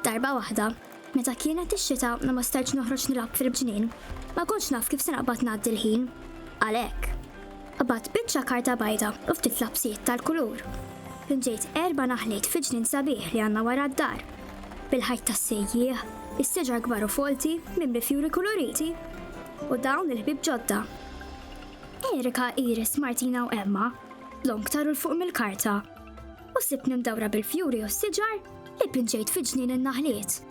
Darba waħda, meta kienet ix-xita u ma stajtx noħroġ nilgħab fil-bġnien, ma kontx naf kif se naqbad ngħaddi l-ħin. Għalhekk, qabad biċċa karta bajda u ftit lapsijiet tal-kulur. Pinġejt erba' naħliet fi ġnien sabiħ li għandna wara d-dar. Bil-ħajt tas-sejjieħ, is-seġar kbar u folti mimli fjuri kuluriti u dawn il-ħbib ġodda. Erika, Iris, Martina u Emma Long taru l fuq mill-karta u sibtni mdawra bil-fjuri u s-siġar li pinġejt fi ġnien in-naħliet.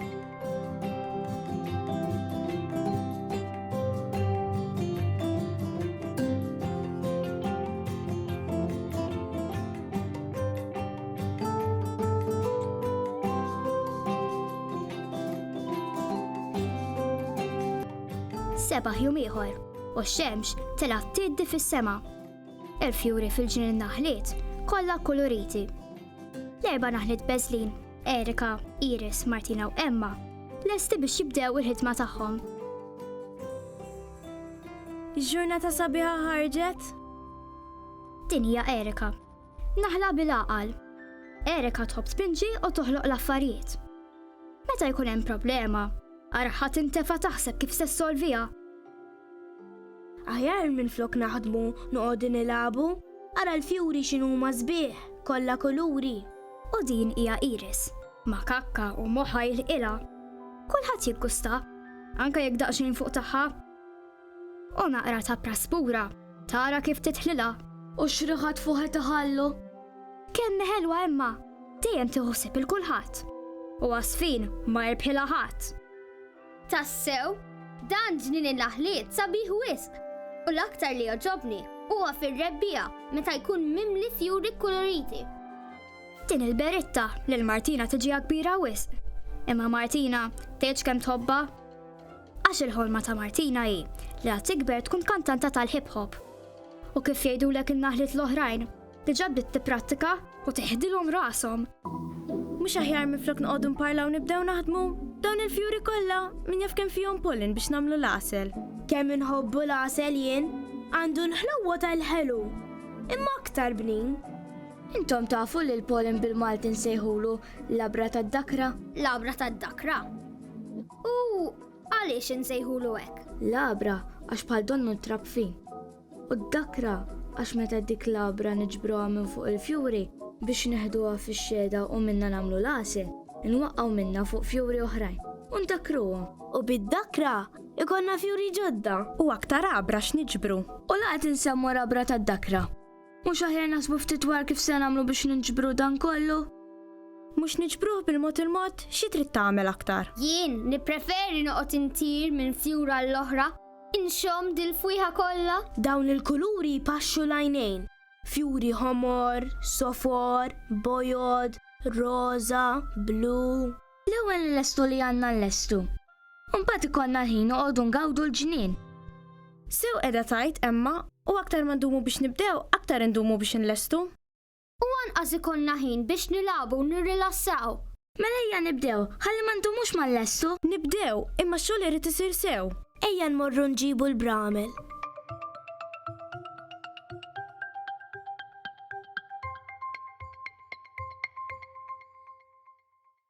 sebaħ jum ieħor u x-xemx telgħat tiddi fis-sema. Il-fjuri fil-ġnien naħliet kollha kuluriti. L-erba' naħliet beżlin, Erika, Iris, Martina u Emma, lesti biex jibdew il-ħidma tagħhom. Ġurnata sabiħa ħarġet? Din hija Erika. Naħla bil-għaqal. Erika tħobb tpinġi u toħloq l-affarijiet. Meta jkun hemm problema, araħat intefa taħseb kif se solvija. Aħjar minflok naħdmu noqogħdu nilagħbu. Ara l-fjuri x'inhuma sbieħ, kollha kuluri. U din hija iris. Ma' kakka u moħħha jilħqilha. Kulħadd jiggustha, anke jekk daqsxejn fuq tagħha. U naqra ta' praspura tara kif tidħlilha. U x-xriħat fuħet iħallu. Kemm hi ħelwa imma dejjem tieħu ħsieb il-kulħadd. U għasfin ma jirbħilha ħadd. Tassew, dan ġnien in-naħliet sabiħ wisq u l-aktar li jogħġobni huwa fir-rebbiegħa meta jkun mimli fjuri kkuluriti. Din il-beritta lil Martina tiġiha kbira wisq. Imma Martina tgħidx kemm tħobbha. Għax il-ħolma ta' Martina hi li għad tikber tkun kantanta tal-hip hop. U kif jgħidulek in-naħliet l-oħrajn, Diġà bdiet tipprattika u teħdilhom rashom. Mhux aħjar minflok noqogħdu nparlaw nibdew naħdmu? Dawn il-fjuri kollha min jaf kemm fihom pollen biex nagħmlu l-għasel. Kemm inħobbu l-għasel jien, għandu l-ħlewwa tal-ħelu, imma aktar bnin. Intom tafu li l-pollen bil-Malti nsejħulu labra tad-dakra? Labra tad-dakra. U għaliex insejħulu hekk? Labra għax bħal donnu trab fin. U d-dakra, għax meta dik l-għabra niġbruha minn fuq il-fjuri biex neħduha fix-xhieda u minnha nagħmlu l-għasel, inwaqqgħu minnha fuq fjuri oħrajn u ndakruhom. U bid-dakra jkollna fjuri ġodda. U aktar għabra x'niġbru. U la qed insemmu l-għabra tad-dakra. Mhux aħjar naħsbu ftit dwar kif se nagħmlu biex niġbru dan kollu? Mhux niġbruh bil-mod il-mod? Xi trid tagħmel aktar? Jien nippreferi noqgħod intir minn fjur għall-oħra Inxomm dil-fwieħa kollha? Dawn il-kuluri jpaxxu l-għajnejn. Fjuri ħomor, sofor, bojod, roża, blu. L-ewwel nlestu li għandna nlestu. U mbagħad ikollna l-ħin noqogħdu ngawdu l-ġnien. Sew qiegħda tgħid Emma, u aktar ma ndumu biex nibdew, aktar indumu biex inlestu. U anqas ikollna ħin biex nilagħbu u nirrilassaw. Mela ejja nibdew, ħalli ma ndumux ma nlessu. Nibdew, imma x-xogħol irid isir sew. Ejja nmorru nġibu l-bramel.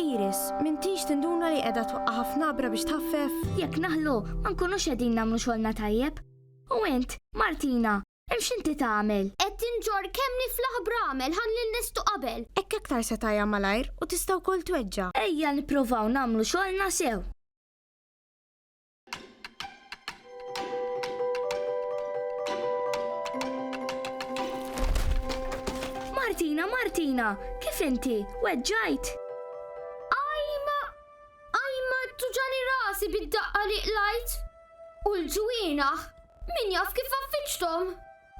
Iris, m'intix tinduna li qiegħda twaqqa' ħafna abra biex tħaffef? Jekk naħlu, ma nkunux qegħdin nagħmlu xogħolna tajjeb. U int, Martina, hemm x'inti tagħmel? Qed tinġorr kemm niflaħ bramel ħalli nlestu qabel. Hekk aktar se tgħajja malajr u tista' wkoll tweġġa'. Ejja nipprovaw nagħmlu xogħolna sew. Martina, Martina, kif inti? Weġġajt? Ajma, ajma tuġani rasi bid-daqqa li qlajt. U l-ġwienaħ Min jaf kif affiċtom?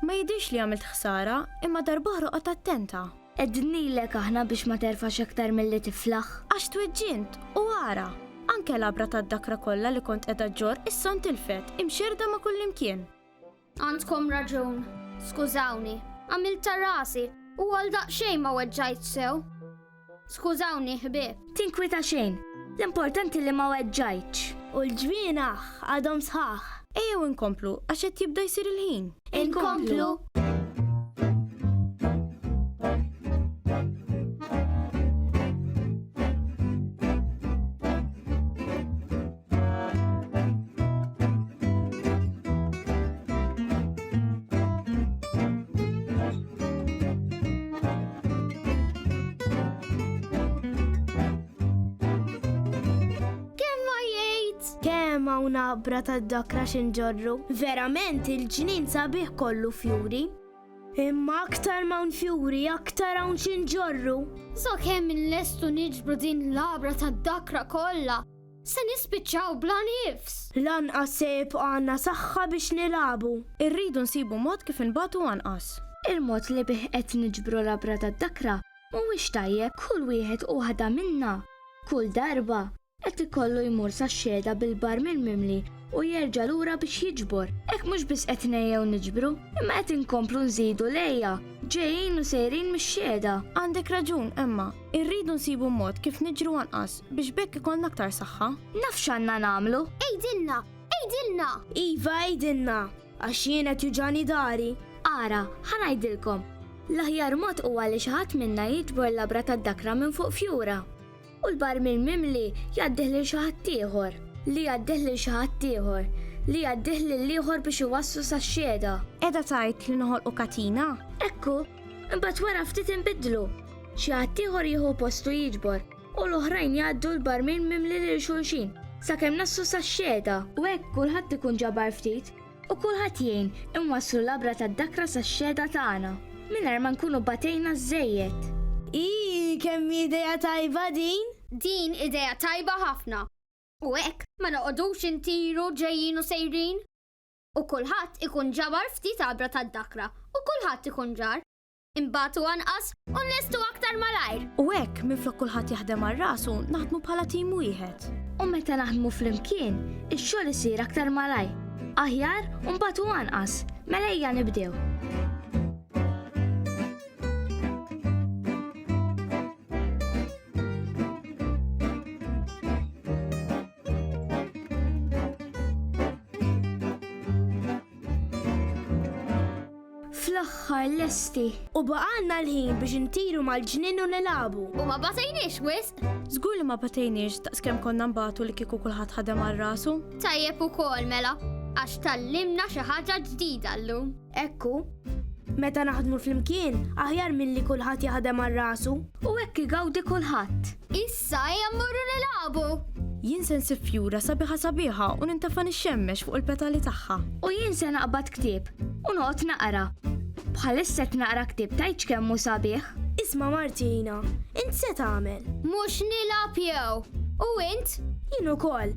Ma jidhirx li għamilt ħsara, imma darb'oħra oqgħod attenta. Qegħdinilek aħna biex ma terfax aktar milli tiflaħ. Għax tweġġint, u ara! Anke l-għabra tad-dakra kollha li kont qiegħda ġġorr issa ntilfet, imxerrda ma' kullimkien. Għandkom raġun. Skużawni. Għamiltha rasi, u għal daqsxejn ma weġġajtx sew. Skużawni, ħbieb. Tinkwita xejn, l-importanti li ma weġġajtx. U l-ġwienaħ għadhom sħaħ. Ejjew inkomplu għax qed jibda jsir il-ħin. Inkomplu! naqbra tad-dakra xinġorru. Verament il-ġnien sabiħ kollu fjuri. Imma aktar ma' fjuri, aktar hawn xinġorru. So kemm il-lestu niġbru din l-abra tad-dakra kollha Se nispiċċaw bla nifs! Lanqas se jibqa' għandna saħħa biex nilagħbu. Irridu nsibu mod kif inbatu anqas. Il-mod li bih qed niġbru l-għabra tad-dakra mhuwiex tajjeb. Kull wieħed u waħda minna, kull darba, qed ikollu jmur sax-xhieda bil-barmil mimli u jerġa' lura biex jiġbor. Hekk mhux biss qed ngħejjew niġbru, imma qed inkomplu nżidu l-għeja ġejjin u sejrin mix-xhieda. Għandek raġun, Emma. Irridu nsibu mod kif niġru anqas biex bekk ikollna aktar saħħa. Naf x'għandna nagħmlu. Ejdilna! Ejdilna! Iva ejdilna! Għax jien qed juġani dari. Ara, ħa ngħidilkom. L-aħjar mod huwa li xi ħadd minna jiġbor labra tad-dakra minn fuq fjura. U l-barmil mimli jgħaddih lil xi ħadd ieħor, li jgħaddih lil xi ħadd ieħor, li jgħaddih lil ieħor biex iwasslu sax-xhieda. Qiegħda tgħid li noħolqu katina? Ekku! Imbagħad wara ftit inbidlu. Xi ħaddieħor jieħu postu jiġbor u l-oħrajn jgħaddu l-barmin mimli lil xulxin sakemm nassu sax-xhieda. U hekk kulħadd ikun ġabar ftit u kulħadd jgħin inwasslu labra tad-dakra sax-xhieda tagħna mingħajr ma nkunu batejna żżejjed. Ii, kemm hi idea tajba din! Din idea tajba ħafna. U hekk ma noqogħdux intiru ġejjin u sejrin. u kulħadd ikun ġabar ftit għabra tad-dakra u kulħadd ikun ġar. Inbatu anqas u nlestu aktar malajr. U hekk, minflok kulħadd jaħdem għal rasu, naħdmu bħala tim wieħed. U meta naħdmu flimkien, ix-xogħol isir aktar malajr, aħjar u nbatu anqas. Mela ejja nibdew. Fl-aħħar lesti. U baqanna l-ħin biex intiru mal-ġnien u nilabu. U ma batejniex wisq. Żgur li ma batejniex ta' skem konna mbatu li kieku kulħadd ħadem għal rasu. Tajjeb ukoll mela, għax tallimna xi ħaġa ġdida llum. Hekk hu. Meta naħdmu flimkien, aħjar milli kulħadd jaħdem għal rasu. U hekk igawdi kulħadd. Issa ejja mmorru nilagħbu! Jien se nsib fjura sabiħa sabiħa u nintafa' nixxemmex fuq il-petali tagħha. U jien se naqbad ktieb u noqgħod naqra. Bħalissa qed naqra ktieb tgħidx kemm hu sabiħ. Isma' Martina, int se tagħmel? Mhux nilgħab jew? U int? Jien ukoll.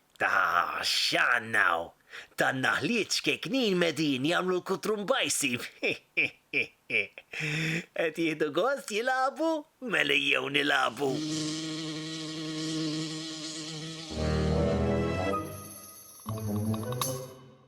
Ta' x'għandna hawn! Tan-naħliet ċkejknin medin jagħmlu l-kutrumbajsi! Qed jieħdu gost jilagħbu? Mela ejjew nilagħbu!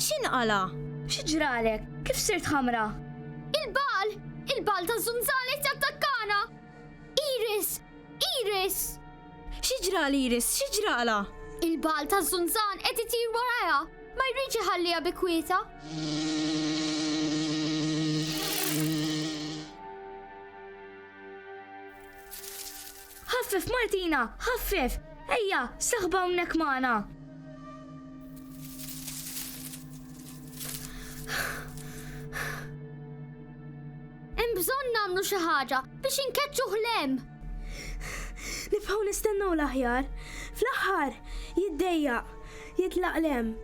X'inqala'? Xi ġralek? Kif sirt ħamra? Il-bagħal! Il-bagħal taż-żunżal qed jattakkana! Iris! Iris! Xi ġra l-Iris? Xi ġralha? Il-bagħal taż-żunżan qed itir warajha! Ma jridx iħalliha bi kwieta! Ħaffef Martina, ħaffef! Ejja, saħba hawnhekk magħna! Hemm bżonn nagħmlu xi ħaġa biex inkeċċu ħlem. Nibqgħu nistennew l-aħjar. Fl-aħħar jiddejja, jitlaq lem.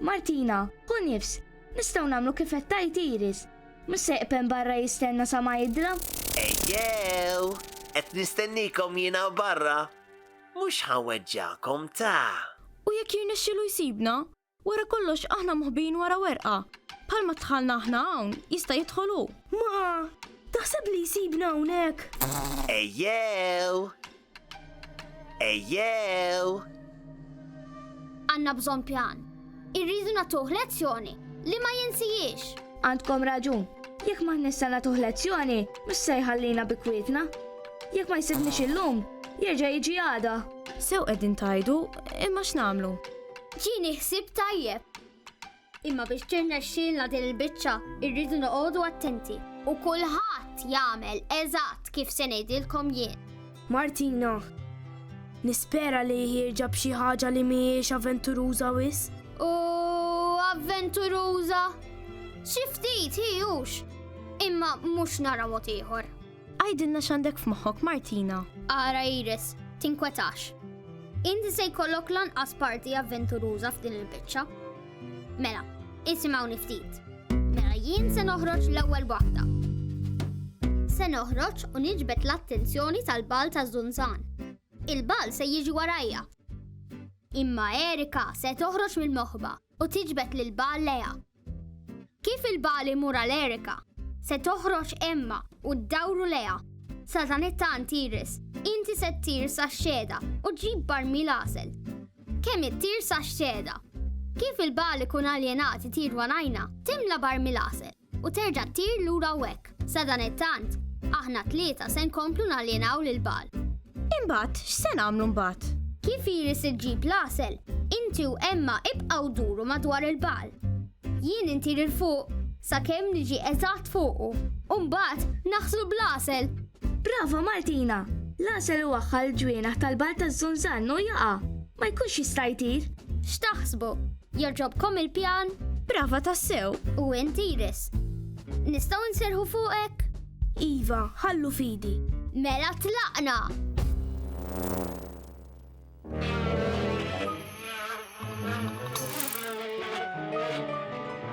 Martina, hu nifs, nistgħu nagħmlu kif qed tajt Iris. Mhux se jqpen barra jistenna sa ma jidra? Ejjew! Qed nistennikom jiena barra. Mhux ħa nweġġagħkom ta! U jekk jirnexxilu jsibna? Wara kollox aħna moħbijin wara werqa. Bħalma dħalna aħna hawn, jista' jidħol hu. Ma! Taħseb li jsibna hawnhekk? Ejjew! Ejjew! Għandna bżonn pjan. Irridu nagħtuh lezzjoni li ma jinsihiex. Għandkom raġun. Jekk m'aħniex se nagħtuh lezzjoni, mhux se jħallina bi kwietna. Jekk ma jsibniex illum, jerġa' jiġi għada. Sew qegħdin tgħidu, imma x'nagħmlu? Ġieni ħsieb tajjeb. Imma biex tirnexxielna din il-biċċa, irridu noqogħdu attenti. U kulħadd jagħmel eżatt kif se ngħidilkom jien. Martina, Nispera li jħierġa b'xi ħaġa li mhijiex avventuruża wis. U avventuruża? Xi ftit hi hux, imma mhux nara mod ieħor. Għidilna x'għandek f'moħħok, Martina. Ara Iris, tinkwetax. Inti se jkollok lanqas parti avventuruża f'din il-biċċa. Mela, isimgħu ftit. Mela jien se noħroġ l-ewwel waħda. Se noħroġ u niġbed l-attenzjoni tal-bal ta' Zunzan. Il-bal se jiġi warajja. Imma Erika se toħroġ mill-moħba u tiġbed lil Bagħal lejha. Kif il-Bagħal imur għal Erika, se toħroġ Emma u ddawru lejha. Satanetta Antiris, inti se ttir sax-xehda u ġġib barmil għasel. Kemm ittir sax-xehda. Kif il-Bagħal ikun aljenat itir wanajna, timla barmil għasel. u terġa' ttir lura u hekk. Sadanittant, aħna t-tlieta se nkomplu naljenaw lil Bagħal. Imbagħad, x'se nagħmlu mbagħad? Kif Iris iġġib l-għasel, inti u Emma ibqgħu duru madwar il-Bagħal. Jien intir 'il fuq sakemm niġi eżatt fuqu, u mbagħad naħslu bl-għasel! Brava Martina! L-għasel iwaħħal il-ġwienaħ tal-Bagħal taż-Żunżann u jaqa'. Ma jkunx jista' jtir. X'taħsbu? Jogħġobkom il-pjan? Brava tassew! U int Iris? Nistgħu nserħu fuqek? Iva, ħallu fidi. Mela tlaqna!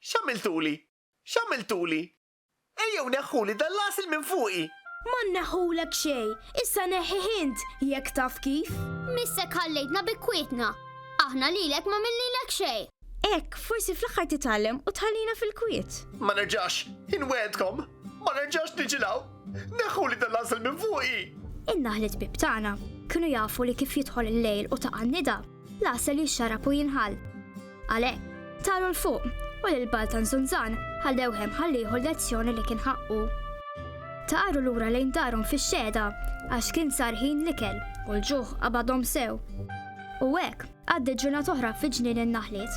X'għamiltuli? X'għamiltuli? Ejjew neħħuli dan l-għasel minn fuqi! Ma nneħħulek xejn, issa neħħih int, jekk taf kif! Missek ħallejtna bi kwietna! Aħna lilek m'għamilnilek xejn! Hekk, forsi fl-aħħar titgħallem u tħallina fil-kwiet! Ma nerġax, inwegħedkom! Ma nerġax niġi 'l hawn! Neħħuli dan l-għasel minn fuqi! In-naħli tbib tagħna kienu jafu li kif jidħol il-lejl u taqa' n-nida, L-għasel jixxarab u jinħall. Għalhekk, taru l fuq u lil Baltan Zunzan ħallew hemm ħallieħu lezzjoni li kien ħaqqu. Taqaru lura lejn darhom fix-xeda għax kien sar ħin l-ikel u l-ġuħ qabadhom sew. U hekk għaddi ġurnat oħra fi ġnien in-naħliet.